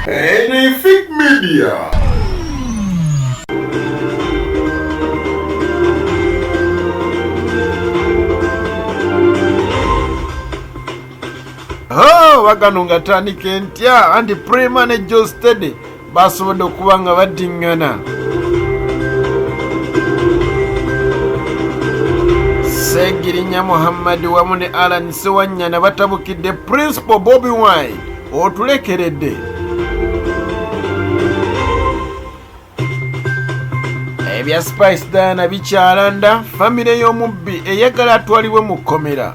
Anything Media. Oh, waganunga tani kentia and prima ne Joe Steady baasobodde okuba nga baddiŋŋana segirinya muhammadi wamu ne alan sewanyana batabukidde principal bobi wine otulekeredde ebya spice diana bikyalanda famire y'omubbi eyagala atwalibwe mu kkomera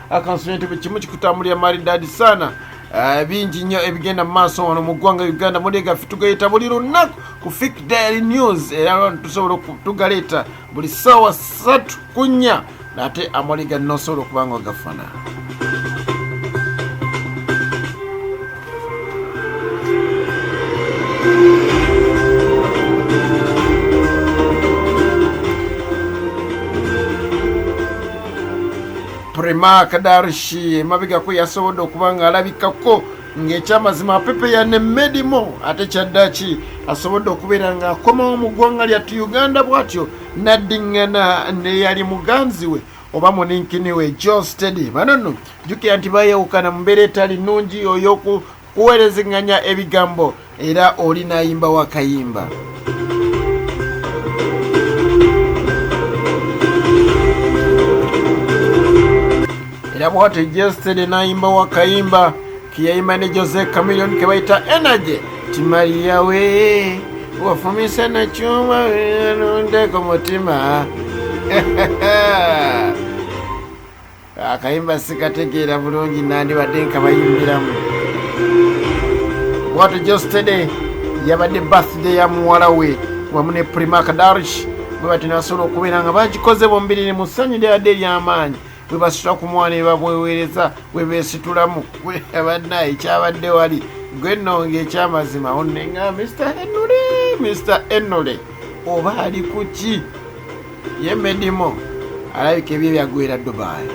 akansonyi nti buli kimu kikutambulira maridadi sana eh, bingi nnyo ebigenda mu maaso wano mu ggwanga uganda mulega ffe tugayita buli lunaku ku fik diary news era lwano tusobola tugaleeta buli ssaawa satu ku nnya naate amaliga nosobola okuba nga ogafuna prema kadarishi emabegako yasobodde okuba ng'alabikako ng'ekyamazima apepeya ne medimo ate kyaddaki asobodde okubeera ng'akomawo mu ggwanga lyattu uganda bw'atyo n'addiŋŋana n'eyali muganzi we oba muninkini we john stedy bano nno jjukira nti bayawukana mu mbeera etali nnungi ey'okuweerezeganya ebigambo era oli n'ayimba wakayimba era bwatyo john stedy n'ayimba wakayimba Kiyaima ne Jose Chameleone ke bayita Energy Timaria we wafumise na chuma nunde ku mutima akayimba sikategeera bulungi nandibadde nkabayimbiramu bwatu jostede yabadde birthday ya muwala we wamu ne prima kadarish bwe bati nasobola okubeera nga bagikoze bombiriri mu ssanyu lyabadde ery'amaanyi bwe basula ku mwana ebabweweereza bwe beesitulamu abanna ekyabadde wali gwe nno ng'ekyamazima onne nga mr henry mr henry oba ali ku ki ye medimo alabika ebyo byagwera dubai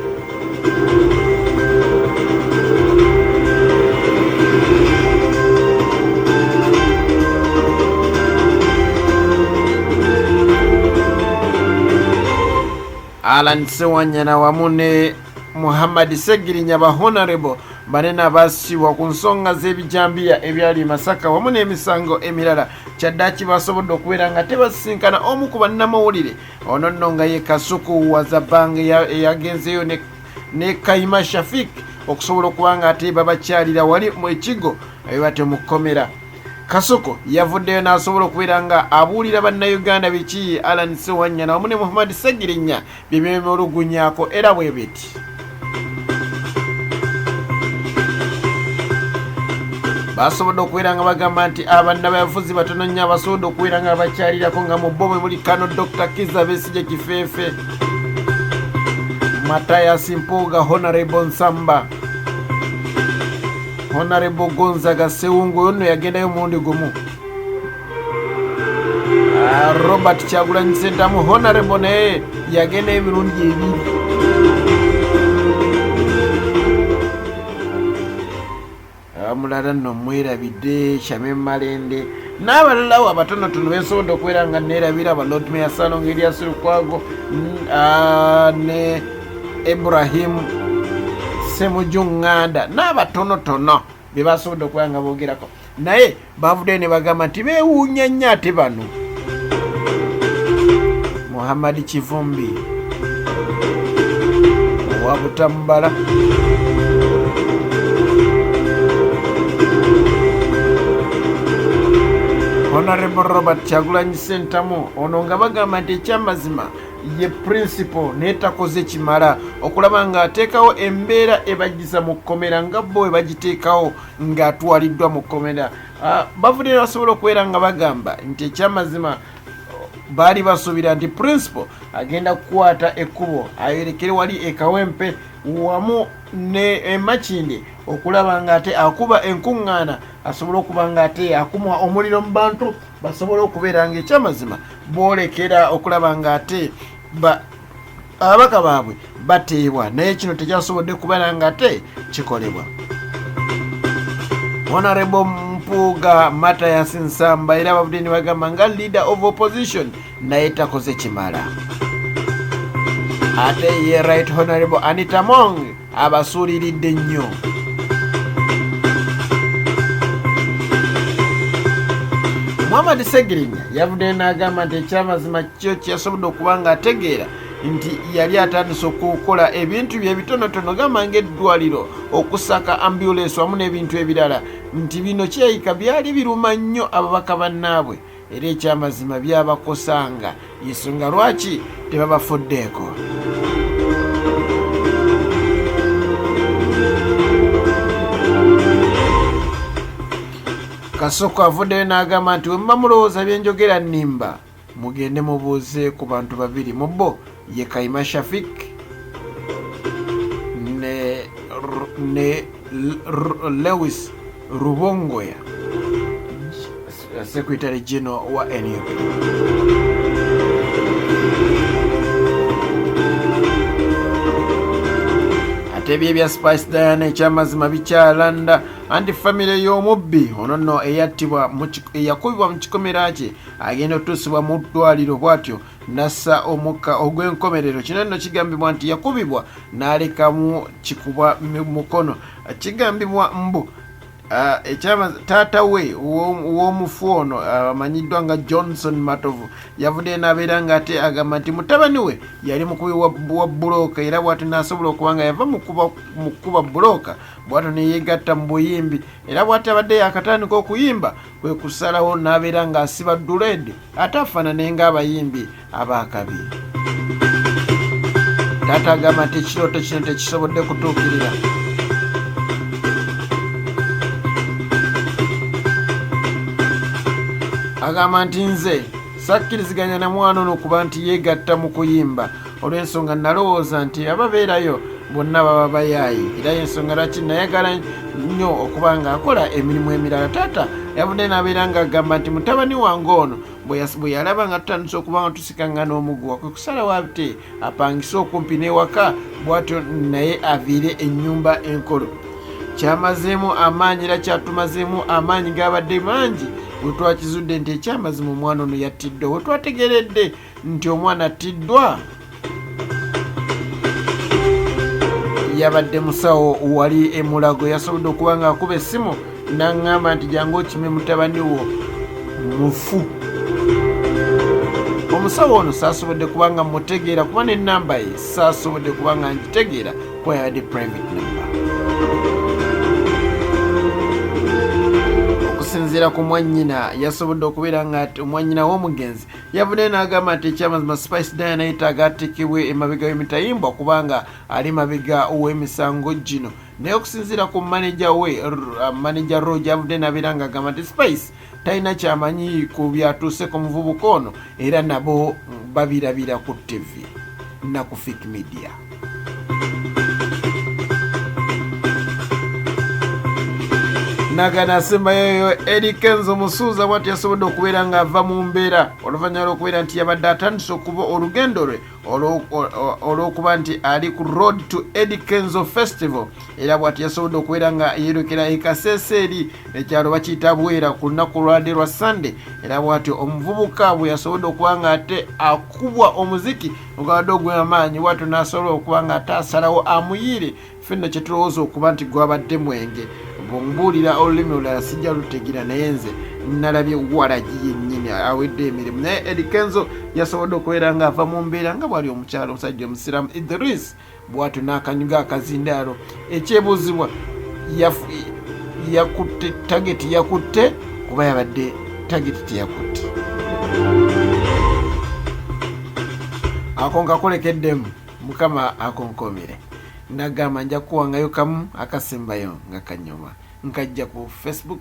Alan Sewanyana wamu ne Muhammad Segirinya ba Honorable banena basibwa ku nsonga z'ebijambiya ebyali e Masaka wamu n'emisango emirala kyaddaki basobodde okubeera nga tebasisinkana omu ku bannamawulire ono nno nga ye Kasuku Wazabang eyagenzeeyo ne Kayima Shafik okusobola okuba nga ate babakyalira wali mu ekigo ebiba temukomera Kasuku yavuddeyo n'asobola okubeera nga abuulira bannayuganda biki Alan Sewanyana wamu ne Muhammad Segirinya bye beemulugunyako era bwe biti basobodde okubeera nga bagamba nti abanna bayafuzi batono nnyo abasobodde okubeera nga bakyalirako nga mu bo mwe muli kano dr kiza besigye kifeefe matayas mpuuga honorable nsamba honarebo gonzaga sewungu oyo nno yagendayo omulundi gumu ah, robert kyagulanyi sentamu honarebo naye yagenda emirundi ebiri mulala nno mwerabidde shame malende n'abalalawo abatonotono bensobodde okubeera nga neerabira aba lord mayor salonga elias lukwago ne ibrahimu semujunganda n'abatonotono bye basobodde okubeera nga boogerako naye bavuddeyo ne bagamba nti beewuunya nnyo ate bano muhammad kivumbi owa butamubala honorable robert kyagulanyi sentamu ono nga bagamba nti ekyamazima ye principal naye takoze kimala okulaba ng'ateekawo embeera ebajjiza mu kkomera nga bo bwe bagiteekawo ng'atwaliddwa mu kkomera ah, bavudde nebasobola okubeera nga bagamba nti ekyamazima baali basuubira nti principal agenda kukwata ekkubo ayerekere wali ekawempe wamu ne emakindi okulaba nga ate akuba enkuŋŋaana asobola okuba nga ate akumwa omuliro mu bantu basobola okubeera nga ekyamazima boolekera okulaba nga ate ababaka baabwe bateebwa naye kino tekyasobodde kubala nga te kikolebwa honorable mpuuga matayas nsamba era abavudde ne bagamba nga leader of opposition naye takoze kimala ate ye right honorable anita mong abasuuliridde nnyo muhammad segirinya yavuddeyo n'agamba nti ekyamazima kyo kyeyasobodde okuba ng'ategeera nti yali atandise okukola ebintu bye bitonotono gamba ng'eddwaliro okusaka ambulensi wamu n'ebintu ebirala nti bino kyeyika byali biruma nnyo ababaka bannaabwe era ekyamazima byabakosanga yensonga lwaki tebabafuddeeko kasoko avuddeyo n'agamba nti wemuba mulowooza byenjogera nnimba mugende mubuuze ku bantu babiri mu bo ye kaima shafik ne, ne lewis rubongoya Secretary General wa NUP. Ate ebyo ebya Spice Diana ekyamazima bikyalanda anti famire y'omubbi ono nno eyattibwa eyakubibwa mu kikomera kye agenda otuusibwa mu ddwaliro bw'atyo nassa omukka ogw'enkomerero kino nno kigambibwa nti yakubibwa n'alekamu kikuba mukono kigambibwa mbu Ah, ekyama taata we w'omufu ono ah, amanyiddwa nga johnson matovu yavuddeyo n'abeera nga ate agamba nti mutabani we yali mukubi wa bulooka era bwati n'asobola okuba nga yava mu kukuba bulooka bwatyo neyegatta mu buyimbi era bwati abadde yakatandika okuyimba kwe kusalawo n'abeera ng'asiba duled ate afaanane ng'abayimbi abaakabi taata agamba nti ekirooto kino tekisobodde kutuukirira agamba nti nze sakkiriziganya na mwana ono kuba nti yeegatta mu kuyimba olw'ensonga nalowooza nti ababeerayo bonna baba bayaayi era yensonga lwaki nayagala nnyo okuba ng'akola emirimu emirala taata yavudde n'abeera ng'agamba nti mutabani wange ono bwe yalaba nga tutandise okuba nga tusikangana omuguwa kwe kusalawo ate apangise okumpi n'ewaka bwatyo naye aviire ennyumba enkolo kyamazeemu amaanyi era kyatumazeemu amaanyi gaabadde mangi bwe twakizudde nti ekyamazima omwana ono yattiddwa we twategeredde nti omwana attiddwa yabadde musawo wali emulago yasobodde okuba nga akuba essimu naŋŋamba nti jangu okime mutabani wo mufu omusawo ono saasobodde kuba nga mutegeera kuba nenamba ye saasobodde kuba nga ngitegeera kuba yabadde private number okusinziira ku mwanyina yasobodde okubeera nga omwanyina w'omugenzi yavuddeyo n'agamba nti ekyamazima spice dayana yetaaga atekebwe emabega w'emitayimbwa kubanga ali mabega w'emisango gino naye okusinziira ku maneja we uh, maneja roge avudde nabeera nga agamba nti spice talina kyamanyi ku byatuuse ku muvubuka ono era nabo babirabira ku ttivi naku fik media naga nasemba yoyo eri kenzo musuuza bwati yasobodde okubeera ng'ava mu mbeera oluvannyuma lw'okubeera nti yabadde atandise okuba olugendo lwe olw'okuba nti ali ku road to edi kenzo festival era bwati yasobodde okubeera nga yeerekera ekaseesa eri ekyalo bakiyita bwera ku lunaku lwade lwa sande era bwati omuvubuka bwe yasobodde okuba nga ate akubwa omuziki ogabadde ogwamaanyi watu nasobola okuba nga ate asalawo amuyiire ffe nno kyetulowooza okuba nti gwabadde mwenge bwemubuulira olulimi olulala sijja lutegira naye nze nalabye walagi yennyini awedde emirimu naye edikenzo yasobodde okubeera nga ava mu mbeera nga bwali omukyalo omusajja omusiraamu idris bwatyo n'akanyuga akazindaalo ekyebuuzibwa yakutte tageti yakutte kuba yabadde tageti teyakutte akonka kolekeddemu mukama akonkomire nagamba nja kuwangayo kamu akasembayo nga kanyuma nkajja ku facebook